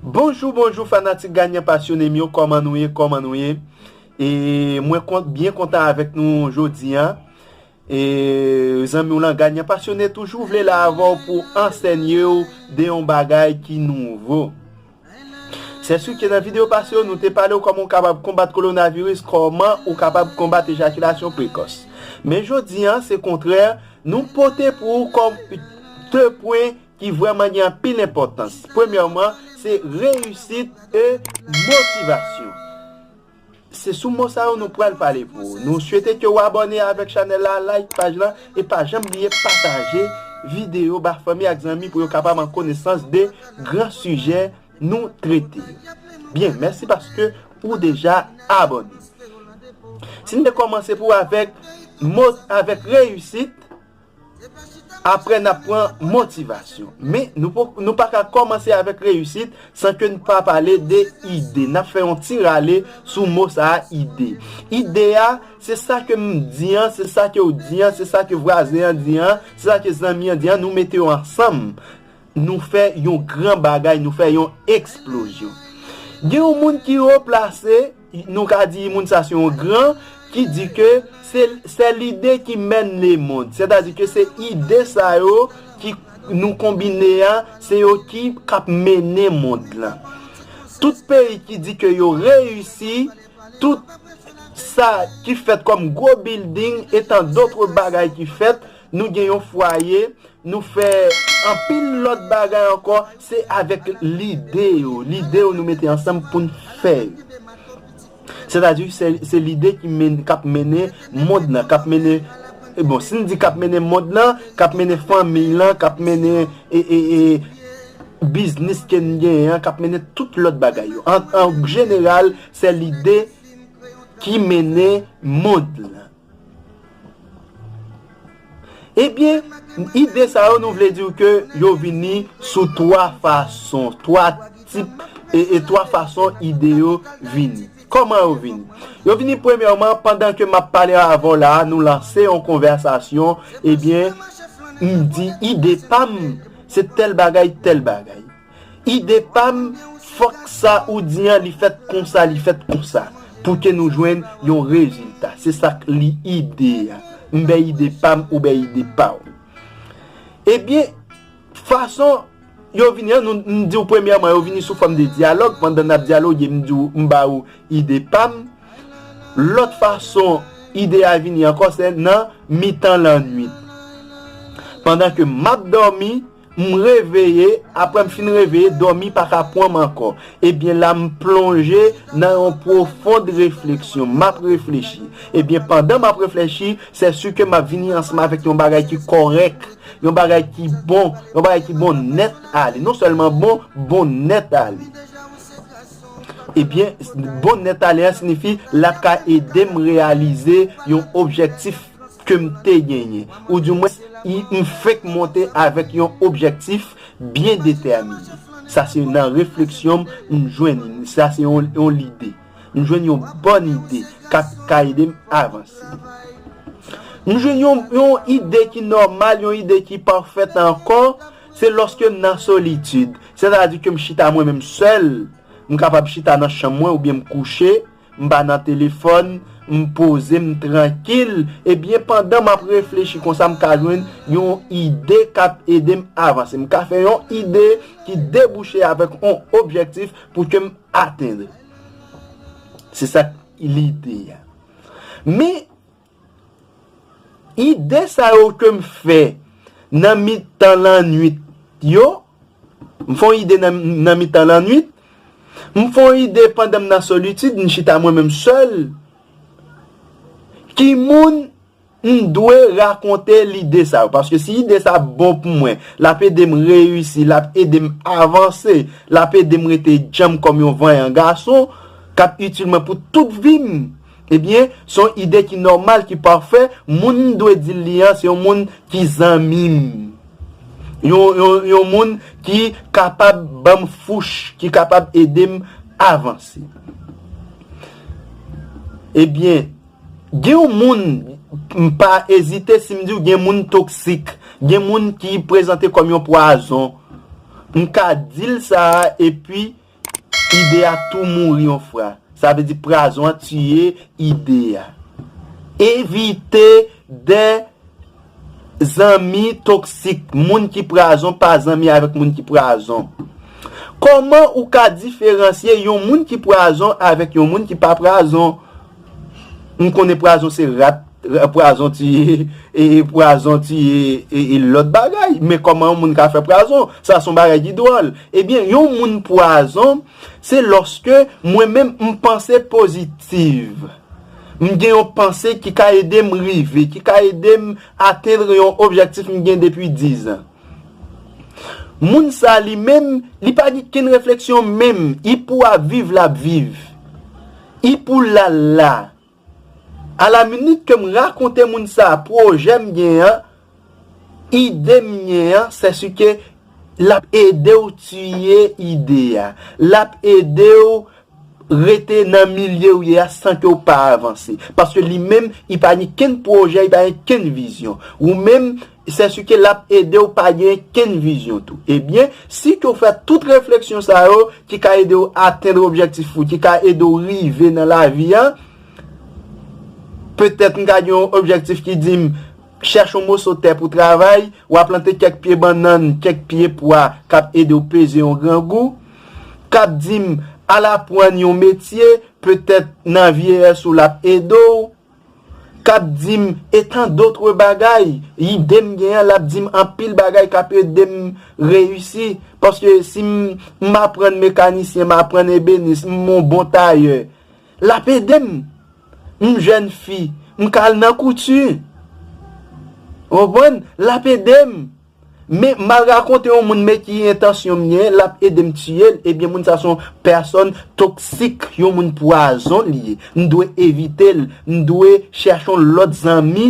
Bonjou bonjou fanatik ganyan pasyone m yo kòman nou ye kòman nou ye e mwen kont byen kontan avèk nou jodi an e zanmi w lan ganyan pasyone toujou vle la avèw pou ansènyew de yon bagay ki nouvo Sè Sukie nan video pase yo nou te palew kòman ou kapab konbat kolonaviris kòman ou kapab konbat ejakilasyon prekòs men jodi an se kontrè nou pote pou ou kòm 2 pwen ki vrèman gen anpil enpòtans premyèman se reyisit e motivasyon. Se sou mo sa yo nou pral pale pou ou. Nou swete ke ou abòne avèk chanèl la, like paj lan e pa janm bliye pataje videyo ba fanmi ak zanmi pou yo kapab an konesans de gran sijè nou trete yo. Byen, mèsi paske ou deja abòne. Si n te kòmanse pou avèk mo avèk reyisit. Aprè n ap pran motivasyon. Men, nou pa ka kòmanse avèk reyisit san ke n pa pale de ide. N ap fè yon ti rale sou mo sa a ide. Ide a, se sa ke m di an, se sa ke w di an, se sa ke vwazen an di an, se sa ke zanmi an di an, nou mete yo ansanm, nou fè yon gran bagay, nou fè yon eksplozyon. Gen yon moun ki wo plase. Nou ka di moun sa se yon gran ki di ke se sè lide ki mèn le mond. Sètadi ke se ide sa yo ki nou konbine a, se yo ki k ap mennen mond lan. Tout peyi ki di ke yo reyisi, tout sa ki fèt kòm gwo bilding etan dotre bagay ki fèt, Nou gen yon fwaye, nou fè anpil lòt bagay ankò, se avèk lide yo, lide yo nou mete ansanm pou n fè yo. Sètadi, se lide k ap mennen mond lan, k ap mennen, bon, si n di k ap mennen mond lan, k ap mennen fanmi lan, k ap mennen biznis ke n genyen an, k ap mennen tout lòt bagay yo. An jeneral, se lide ki mennen mond lan. Ebyen, ide sa yo nou vle di w ke yo vini sou 3 fason, 3 tip, e 3 fason ide yo vini. Kòman yo vini? Yo vini premyèman pandan ke m ap pale avè w la a, nou lanse yon konvèsasyon, ebyen, m di ide pa m se tèl bagay, tèl bagay. Ide pam fòk sa ou di an li fèt konsa li fèt konsa pou ke nou jwenn yon rezilta se sak li ide a m bè ide pam ou bè ide paw ebyen fason yo vini an nou m diw premyèman yo vini sou fòm de dyalòg pandan nap dyaloge m diw m ba ou ide pam lòt fason ide a vini ankò se nan mitan lannuit pandan ke map dòmi. M reveye, aprè m fin reveye, dòmi pa ka pran m ankò. Ebyen la m plonje nan yon pwofond refleksyon. M ap reflechi. Ebyen pandan m ap reflechi, sè si ke m ap vini ansanm avèk yon bagay ki kòrèk, yon bagay ki bon, yon bagay ki bon nèt ale. Non sèlman bon, bon nèt ale. Ebyen, bon nèt ale an sinifi l ap ka ede m reyalize yon objèktif. ke m te genyen, ou di mwens m fenk monte avèk yon objektif byen detèmine. Sa se nan refleksyon m m jwenn, sa se yon lide. M jwenn yon bòn ide k ap ka ede m avanse. M jwenn yon ide ki nòmal, yon ide ki pafèt ankò, se lòske m nan solitid. Sètadi ke m chita mwen menm sèl, m kapab chita nan chanm mwen oubyen m kouche, M pa nan telefòn, m poze m trankil, ebyen pandan m ap reflechi konsa m ka jwenn yon ide k ap ede m avanse. M ka fè yon ide ki debouche avèk yon objektif pou ke m atenn. Se sa k lide a. Men, Ide sa yo ke m fè nan mitan lannuit yo, m fè yon ide nan mitan lannuit, m fè yon ide pandan m nan solitid, m chita mwen menm sèl, ki moun m dwe rakonte lide sa yo? Paske si ide sa ap bon pou mwen, l ap ede m reyisi, l ap ede m avanse, l ap ede m rete djanm kòm yon vanyan gason, k ap itil mwen pou tout vi m, Ebyen, se yon ide ki nòmal, ki pafè, moun m dwe di l li an se yon moun ki zanmi m. Yon moun ki kapab ban m fouch, ki kapab ede m avanse. Ebyen, gen yon moun, m pa ezite si m di w gen moun toksik, gen moun ki prezante kòm yon pwazon. M ka di l sa a epi. Ide a tou mouri yon fra. Sa vle di prazon an tiye ide a. Evite de zanmi toksik. Moun ki prazon pa zanmi avèk moun ki prazon. Kòman ou ka diferansye yon moun ki prazon avèk yon moun ki pa prazon? M konnen pwazon se rat, pwazon tiye, pwazon tiye e lòt bagay. Men kòman yon moun ka fè pwazon? Sa son bagay ki dwòl. Ebyen yon moun pwazon se lòske mwen menm m panse pozitiv. M gen yon panse ki ka ede m rive, ki ka ede m atendre yon objektif m gen depi dizan. Moun sa li menm, li pa gen kenn refleksyon menm. Li pou ap viv l ap viv. Ipoulala! A la minit ke m rakonte moun sa a pwojè m gen an, ide m gen an, sèske l ap ede w tiye ide a. L ap ede w rete nan milye ou ye a san ke w pa avanse. Paske li menm, li pa gen kenn pwojè, li pa gen kenn vizyon. Ou menm, Sèske l ap ede w pa gen kenn vizyon tou. Ebyen, si ke w fè tout refleksyon sa yo ki ka ede w atenn objektif ou, ki ka ede w rive nan lavi a, petèt m ka gen yon objektif ki di m, chèche yon moso tè pou travay, wa plante kèk pye bannann, kèk pye pwa k ap ede w peze yon grangou, k ap di m, al apwann yon metye, petèt nan vyeyès ou l ap ede w. k ap di m e tan dotre bagay, ide m gen an l ap di m anpil bagay k ap ede m reyisi paske si m aprann mekanisyen, m aprann ebenis, m on bon tayè l ap ede m, m jèn fi m ka al nan kouti ou konprann l ap ede m. Men mal rakonte yon moun men ki entansyon m gen lap edem tiyel ebyen moun sa son pèsòn toksik yon moun pwazon li ye m dwe evitel m dwe chèche yon lòt zanmi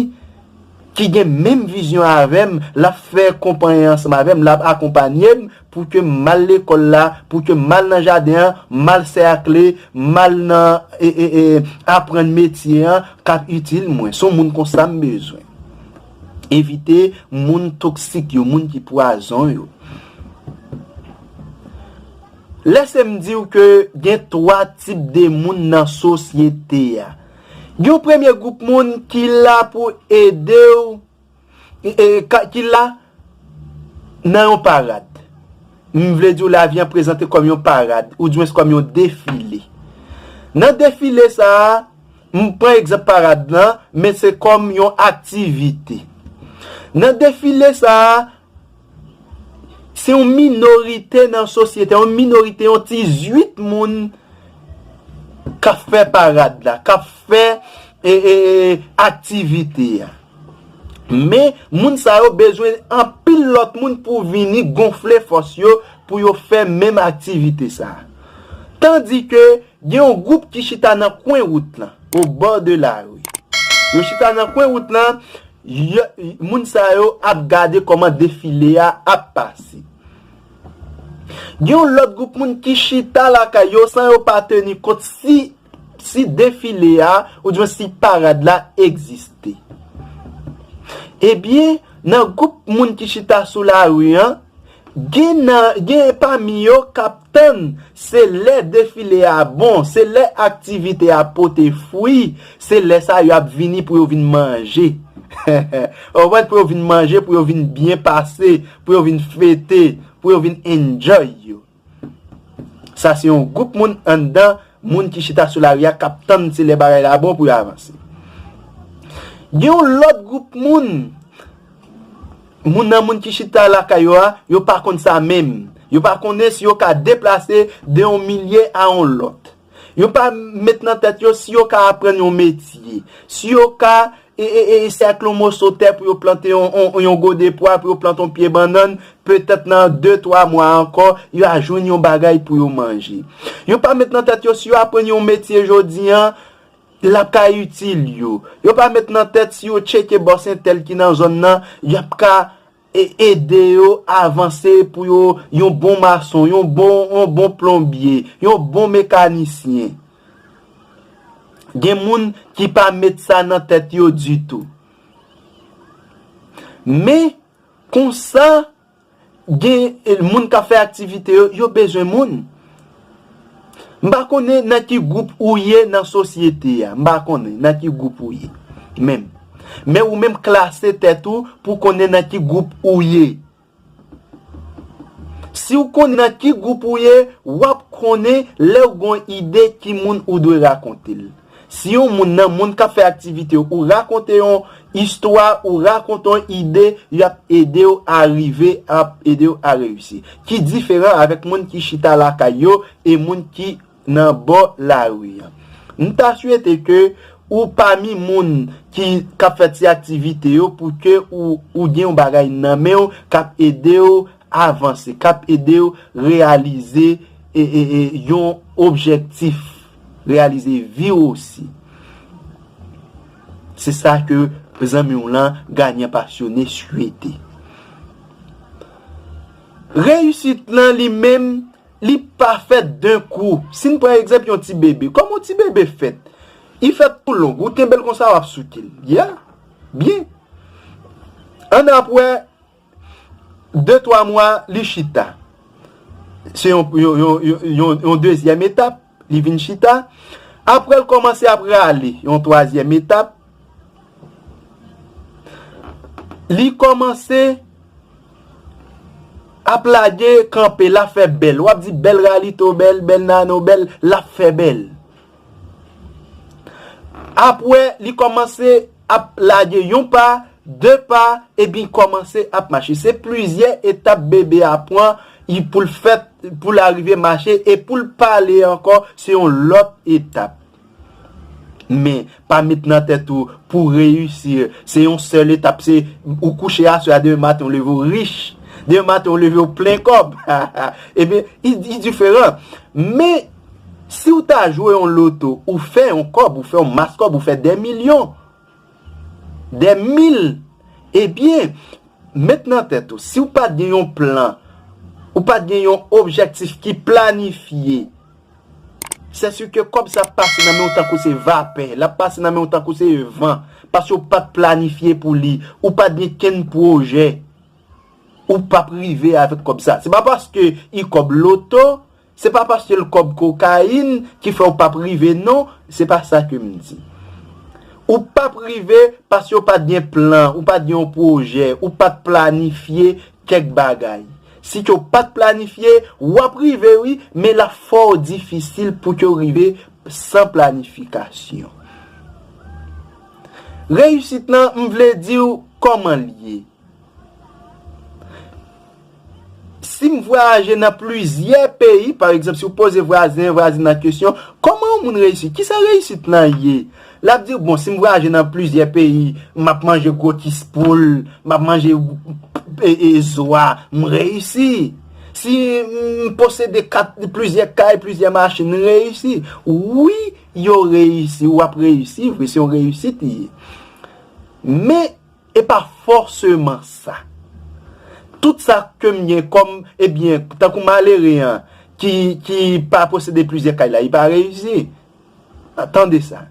ki gen menm vizyon avèm lap fè konpaye ansanm avèm lap akonpanyem pou kem mal lekòl la pou kem mal nan jaden an mal sèkle mal nan aprann metye an kap itil mwen son moun konsa m bezwen. Evite moun toksik yo, moun ki pwazon yo. Lèse m di w ke gen 3 tip de moun nan sosyete a. Gen yon premye gwoup moun ki la pou ede w, ki la nan yon parad. M vle di w lavi an prezante kòm yon parad, oudjwens kòm yon defile. Nan defile sa a, M pran egzanp parad lan, men se kòm yon aktivite. Nan defile sa a, se yon minorite nan sosyete, yon minorite, yon ti zuit moun k ap fè parad la, k ap fè aktivite a. Men, moun sa yo bezwen anpil lòt moun pou vini gonfle fòs yo pou yo fè menm aktivite sa a. Tandike, Gen yon gwoup ki chita nan kwen wout lan, au bord de la rue. Yo chita nan kwen wout lan, moun sa yo ap gade kòman defile a ap pase. Gen yon lòt gwoup moun ki chita lakay yo san yo pa teni kont si defile a oudwen si parad la egziste. Ebyen, nan gwoup moun ki chita sou lari an, Gen nan gen pami yo k ap tann se lè defile a bon, se lè aktivite a pote fwi, se lè sa yo ap vini pou yo vin manje. Ou konprann? Pou yo vin manje, pou yo vin byen pase, pou yo vin fete, pou yo vin enjoy yo. Sa se yon gwoup moun anndan Moun ki chita sou lari a k ap tann se lè bagay la bon pou yo avanse. Gen yon lòt gwoup moun, moun nan moun ki chita lakay yo a, yo pa konn sa menm. Yo pa konnen si yo ka deplase de yon milye a yon lòt. Yo pa met nan tèt yo si yo ka aprann yon metye, si yo ka E sèkle yon moso tè pou yo plante yon gode pwa, pou yo plante yon pye bannann, petèt nan de twa mwa ankò, yo a jwenn yon bagay pou yo manje. Yo pa met nan tèt yo si yo aprann yon metye jodi an, l ap ka itil yo. Yo pa met nan tèt si yo tcheke bòs entèl ki nan zòn nan, y ap ka E ede yo avanse pou yo yon bon mason, yon bon, yon bon plonbye, yon bon mekanisyen. Gen moun ki pa met sa nan tèt yo ditou. Men, konsa, gen moun k ap fè aktivite yo, yo bezwen moun. M pa konnen nan ki gwoup ou ye nan sosyete a. M pa konnen nan ki gwoup ou ye menm. Men ou menm klase tèt ou pou w konnen nan ki gwoup ou ye. Si w konnen nan ki gwoup ou ye, w ap konnen lè ou gen yon ide ki moun ou dwe rakonte l. Si yon moun nan moun k ap fè aktivite yo, ou rakonte yon istwa, ou rakonte yon ide, y ap ede w a rive, y ap ede w a reyisi. Ki diferan avèk moun ki chita lakay yo e moun ki nan bò lari an. M ta swete ke ou pami moun ki k ap fè ti aktivite yo pou ke ou gen yon bagay nan men w k ap ede w avanse, k ap ede w reyalize yon objektif. Reyalize vi w osi. Se sa ke zanmi w lan ganyan pasyone swete. Reyisit lan li menm, li pa fèt d'un kou. Si n pran egzanp yon ti bebe, kòman yon ti bebe fèt? Li fèt tou long. Ou kenbe l konsa, w ap souke l. Yeah! Byen. An n ap wè, De twa mwa, li chita. Se yon dezyèm etap, li vin chita. Apre l kòmanse ap rale, yon twazyèm etap. Li kòmanse ap lage kanpe, l ap fè bèl. W ap di bèl Ralito, bèl Nano, bèl, l ap fè bèl. Apwè li kòmanse ap lage yon pa, 2 pa, ebyn kòmanse ap mache. Se plizyè etap bebe a pwan y pou l fèt pou l arive mache e pou l pale ankò se yon lòt etap. Men, pa met nan tèt ou pou w reyisi se yon sèl etap se ou kouche aswè a demen maten ou leve ou rich, demen maten ou leve ou plen kòb, ebyn y diferan. Men. Siw ta jwe yon loto ou fè yon kòb ou fè yon mas kòb ou fè dè milyon dè mil ebyen met nan tèt ou siw pat gen yon plan ou pat gen yon objèktif ki planifye sè si ke kòb sa ap pase nan menw tankou se vapè lap pase nan menw tankou se van paske ou pat planifye pou li ou pat gen kenn pwojè ou pap rive avèk kòb sa se pa paske i kòb loto Se pa paske l kòb kokayin ki fè w pap rive non, se pa sa ke m di. Ou pap rive paske w pat gen plan, ou pat gen yon pwojè, ou pat planifye kèk bagay. Si ke w pat planifye, w ap rive wi, men l ap fò w difisil pou ke w rive san planifikasyon. Reyisit lan, m vle di w kòman l ye. Si m vwayaje nan plizyè peyi, pa egzanp, si w poze vwazen, vwazin nan kesyon, kòman yon moun reyisi? Ki sa reyisit lan ye? L ap di w, bon, si m vwayaje nan plizyè peyi, m ap manje gwo kis poul, m ap manje zwa, m reyisi. Si m posede plizyè kay, plizyè machin, m reyisi. Wi, yo reyisi, w ap reyisi vre, se yon reyisit li ye. Men. E pa fòseman sa. Tout sa kem gen kòm e byen tankou malere an ki ki pa posede plizyè kay la li pa reyisi. Tande sa.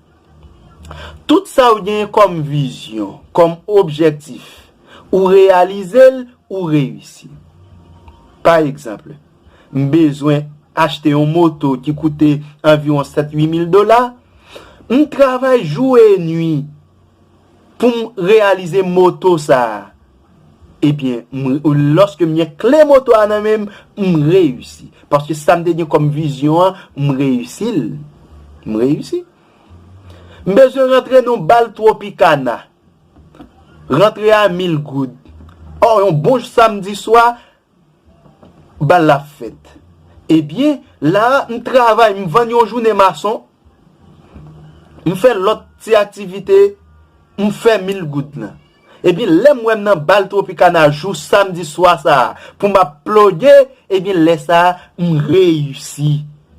Tout sa ou genyen kòm vizyon, kòm objèktif, ou reyalize l, ou reyisi. Pa egzanp, m bezwen achte yon moto ki koute anviwon 7, 8 mil dola, m travay jou e nwi Poum reyalize moto sa a ebyen m loske m gen kle moto a nan menm m reyisi paske sam te gen kòm vizyon an m reyisi l m reyisi m bezwen rantre nan yon bal tropicana rantre a mil goud ò yon bon samdi swa Bal la ap fèt. Ebyen, la a, m travay, m vann yon jounen mason, m fè lòt ti aktivite, m fè mil goud lan. Ebyen, lè m wè m nan bal Tropicana jou samdi swa sa a pou m ap ploge, ebyen lè sa a, m reyisi.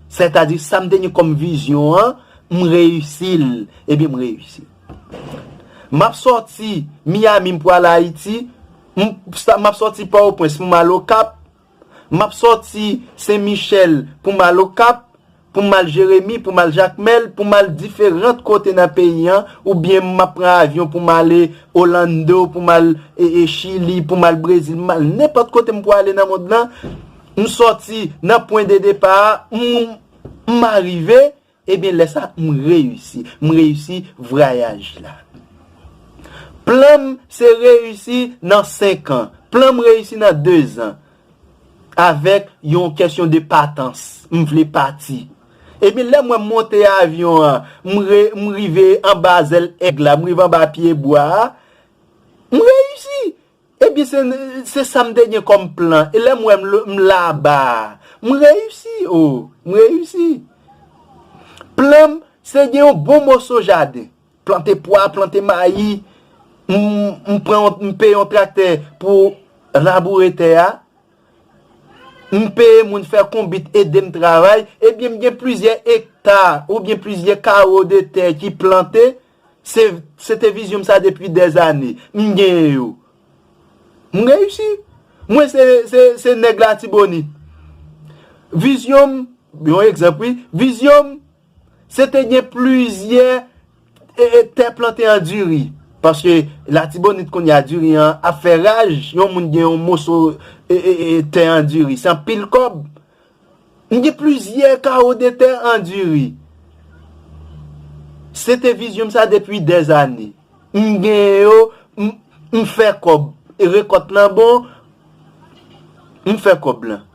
Sètadi, sa m te gen kòm vizyon an, m reyisi l. Ebyen, m reyisi. M ap sòti Miami m pral Ayiti. M ap sòti Pòtoprens pou m al Okap, m ap sòti Sen Michèl pou m al Okap, pou m al Jeremi, pou m al Jakmèl, pou m al diferant kote nan peyi an, oubyen m ap pran avyon pou m ale Olando, pou m al Chili, pou m al Brezil, m al nenpòt kote m pou ale nan mond lan, m sòti nan pwen de depa a, m arive, Ebyen lè sa m reyisi. M reyisi vrayaj la. Plan m se reyisi nan 5 an. Plan m reyisi nan 2 zan. Avèk yon kèsyon de patans. M vle pati. Ebyen lè m wè m monte avyon an, m rive anba zèl èg la, m rive anba pye bwa a, m reyisi. Ebyen se se sam te gen kòm plan e lèm wè m la anba a m reyisi oh m reyisi plan m se gen yon bon moso jaden plante pwa plante mayi m pran yon m peye yon traktè pou raboure tè a m peye moun fè konbit edem travay ebyen m gen plizyè ekta oubyen plizyè kawo de tè ki plante Se te vizyon m sa depi dè zane. M genyen yo. M reyisi. Mwen se nèg latibonit. Vizyon m, yon egzanp wi, vizyon m se te gen plizyè tè plante an diri. Paske latibonit kounye a diri an ap fè raj, yon moun gen yon moso tè an diri. Se anpil kòb. M gen plizyè kawo de tè an diri. Se te vizyon m sa depi dèzane. M gen yo, m fè kòb. Rekòt lan bon, m fè kòb lan.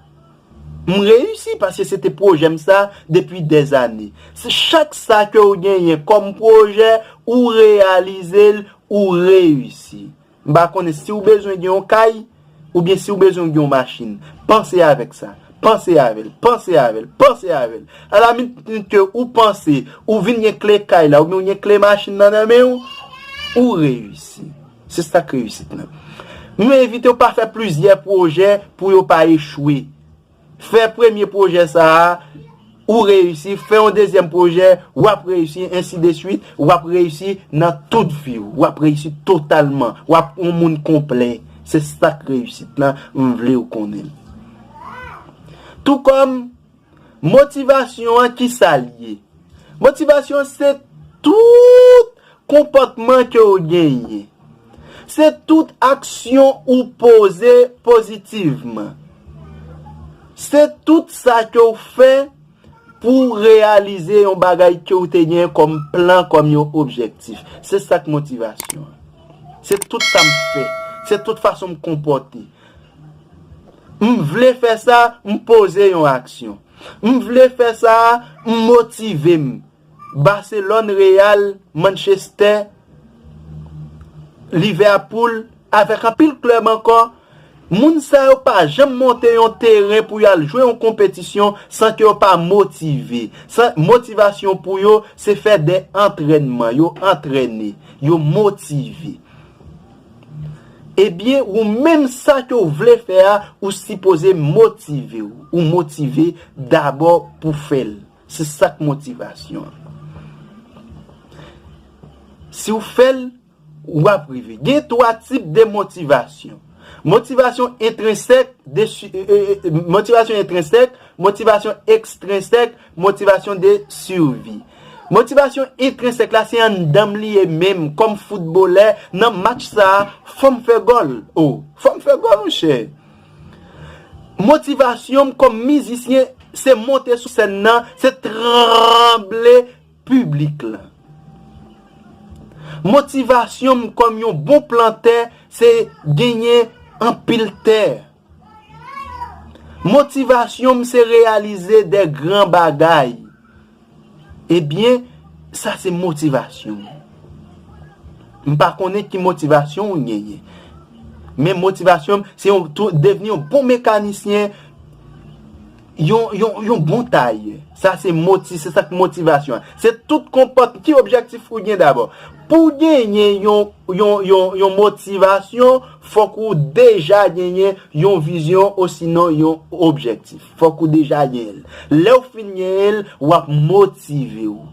M reyisi paske se te pwojè m sa depi dèzane. Chak sa ke ou genyen kòm pwojè, ou reyalize l, ou reyisi. M pa konnen si ou bezwen gen yon kay, oubyen si ou bezwen gen yon machin. Panse avèk sa. Panse avè l. Panse avè l. Panse avè l. A la minit ke ou panse, ou vin gen kle kay la, oubyen ou gen kle machin nan nan men ou, ou reyisi. Se sa k reyisit nan. M envite ou pa fè plizyè pwojè pou yo pa echwe. Fè premye pwojè sa a, ou reyisi, fè yon dezyèm pwojè, w ap reyisi, ensi de swit, w ap reyisi nan tout vi w, w ap reyisi totalman, w ap yon moun konplè, se sa k reyisit lan, m vle w konnen l. Tou kòm, motivasyon an ki sa l ye? Motivasyon se tout Konpòtman ke w genyen. Se tout aksyon ou poze pozitivman. Se tout sa ke w fè pou w reyalize yon bagay ke w te genyen kòm plan, kòm yon objektif. Se sa k motivasyon an. Se tout sa m fè. Se tout fason m konpòte. M vle fè sa, m poze yon aksyon. M vle fè sa a, m motive m. Barcelone Real Manchester Liverpool avèk anpil klèb ankò moun sa yo pa janm monte yon teren pou yo al jwe yon konpetisyon san ke yo pa motive san motivasyon pou yo se fè de antrènman yo antrène yo motive ebyen ou menm sa ke ou vle fè a ou sipoze motive ou motive dabò pou fèl. Se sak motivasyon an. Si w fè l, w ap rive. Gen 3 tip de motivasyon. Motivasyon entrensèk, motivasyon entrensèk, motivasyon ekstrensèk, motivasyon de survi. Motivasyon entrensèk la se anndan m li ye menm kòm foutbolè nan match sa a fò m fè gòl. O! Fò m fè gòl monchè. Motivasyon m kòm mizisyen se monte sou sèn nan, se tranble piblik la. Motivasyon m kòm yon bon plantè se genyen anpil tè. Motivasyon m se reyalize de gran bagay. Ebyen, sa se motivasyon m. M pa konnen ki motivasyon ou genyen. Men motivasyon m, se yon tou devni yon bon mekanisyen, yon bon tayè. Sa se moti, se sa k motivasyon an. Se tout konpòt, ki objektif ou gen dabò? Pou w genyen yon motivasyon, fòk ou deja genyen yon vizyon osinon yon objektif. Fòk ou deja gen l. Lè ou fin gen l, w ap motive ou.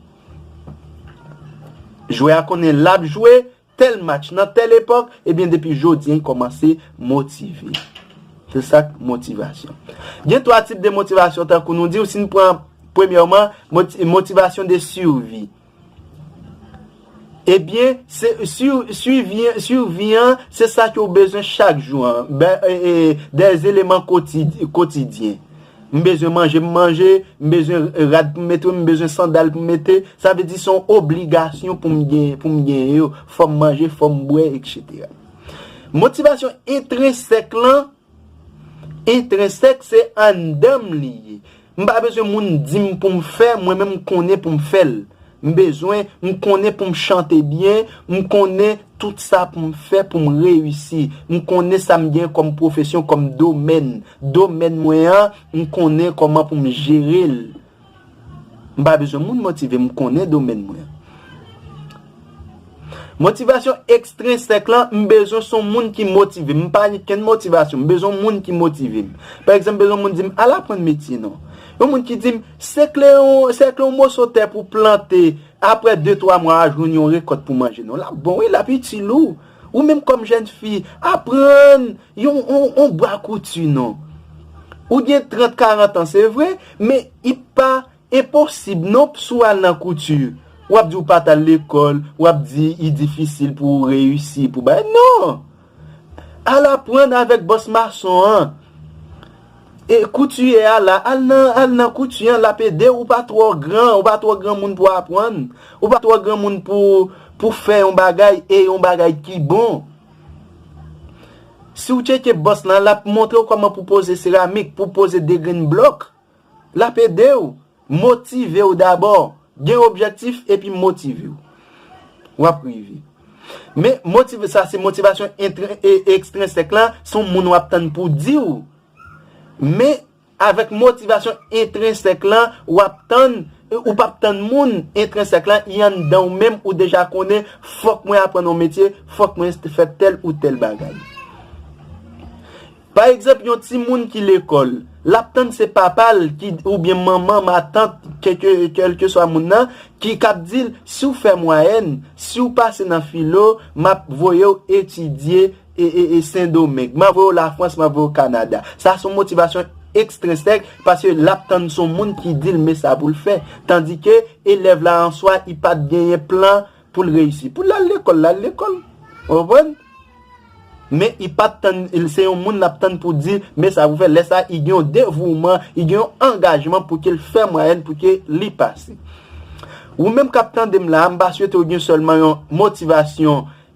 Jwè a konnen l ap jwe tèl match nan tèl epòk, ebyen depi jodi an li kòmanse motive. Se sa k motivasyon. Gen twa tip de motivasyon tankou nou di w, si n pran premyèman, motivasyon de survie. Ebyen sivi an se sa ke ou bezwen chak jou an. De eleman kotidyen. M bezwen manje m manje, m bezwen rad pou m mete, m bezwen sandal pou m mete. Sa vle di son obligasyon pou m genyen yo. Fò m manje, fò m bwe, etc. Motivasyon etrensèk lan. Intrinsèk se anndanm li ye. M pa bezwen moun dim poum fè, mwen menm m konnen poum fèl. M bezwen, m konnen poum chante byen, m konnen tout sa poum fè poum reyisi. M konnen sam gen kòm pwofesyon kòm domèn. Domèn mwen an, m konnen kòman poum jerel. M pa bezwen moun motive m, m konnen domèn mwen. Motivasyon ekstrensèk lan, m bezwen son moun ki motive m. M pa gen kenn motivasyon, m bezwen moun ki motive m. Pa egzanp, m bezwen moun di m, al aprann metye non. Yon moun ki di m, sekle yon moso tè pou plante, apre 2, 3 mwa a jwenn yon rekòt pou manje non. L ap bon wi, l ap itil ou. Ou menm kòm jèn fi, aprann! Yon on bwa kouti non. Ou gen 30 40 ans se vre men i pa enposib non p sou al nan kouti wap di ou pat al lekol wap di i difisil pou ou reyisi pou bagay non al aprann avek bos mason an e koutiye a la al nan al nan kouti an lap edew ou pa tro gran ou pa tro granmoun pou aprann ou pa tro granmoun pou pou fè yon bagay e yon bagay ki bon. Si w tcheke bòs lan, l ap montre w kòman pou poze seramik, pou poze degrenn blòk. L ap ede w, motive w dabò. Gen objektif epi motive w. W ap rive. Men, motive sa se motivasyon ekstrensèk lan, se yon moun w ap tann pou di w. Men. Avèk motivasyon entrensèk lan w ap tann, ou p ap tann moun, entrensèk lan, li anndan ou menm, ou deja konnen, fòk mwen aprann yon metye, fòk mwen fè tèl ou tèl bagay. Pa egzanp yon timoun ki lekòl, l ap tann se papa l ki oubyen manman, matant, kèlkeswa moun nan, ki k ap di l, si w fè mwayèn, si w pase nan filo, m ap voye w etidye e Sendomeng. Mwen voye w Lafrans, mwen voye w Kanada. Sa son motivasyon ekstrinsèk paske l ap tann son moun ki di l men sa pou l fè. Tandike elèv la an swa li pa t genyen plan pou l reyisi. Pou l al lekòl, l al lekòl. Ou konprann? Men li pa t tann, se yon moun l ap tann pou di l men sa pou l fè. Lè sa li gen yon devouman, li gen yon angajman pou ke l fè mwayèn pou ke li pase. Ou menm k ap tande m la a, m pa swete w gen sèlman yon motivasyon.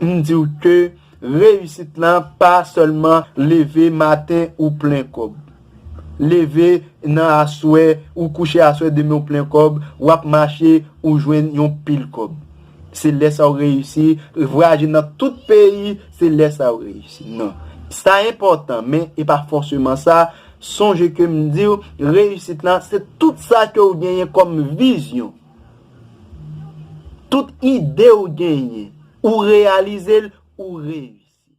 M diw ke reyisit la pa sèlman leve maten ou plen kòb. Leve nan aswè ou kouche aswè demen ou plen kòb, wap mache ou jwenn yon pil kòb. Se lè sa ou reyisi, vwayaje nan tout peyi se lè sa ou reyisi. Non. Sa enpòtan men e pa fòseman sa, sonje ke m diw reyisit la se tout sa ke ou genyen kòm vizyon. Tout ide ou genyen, ou reyalize l, ou reyisi.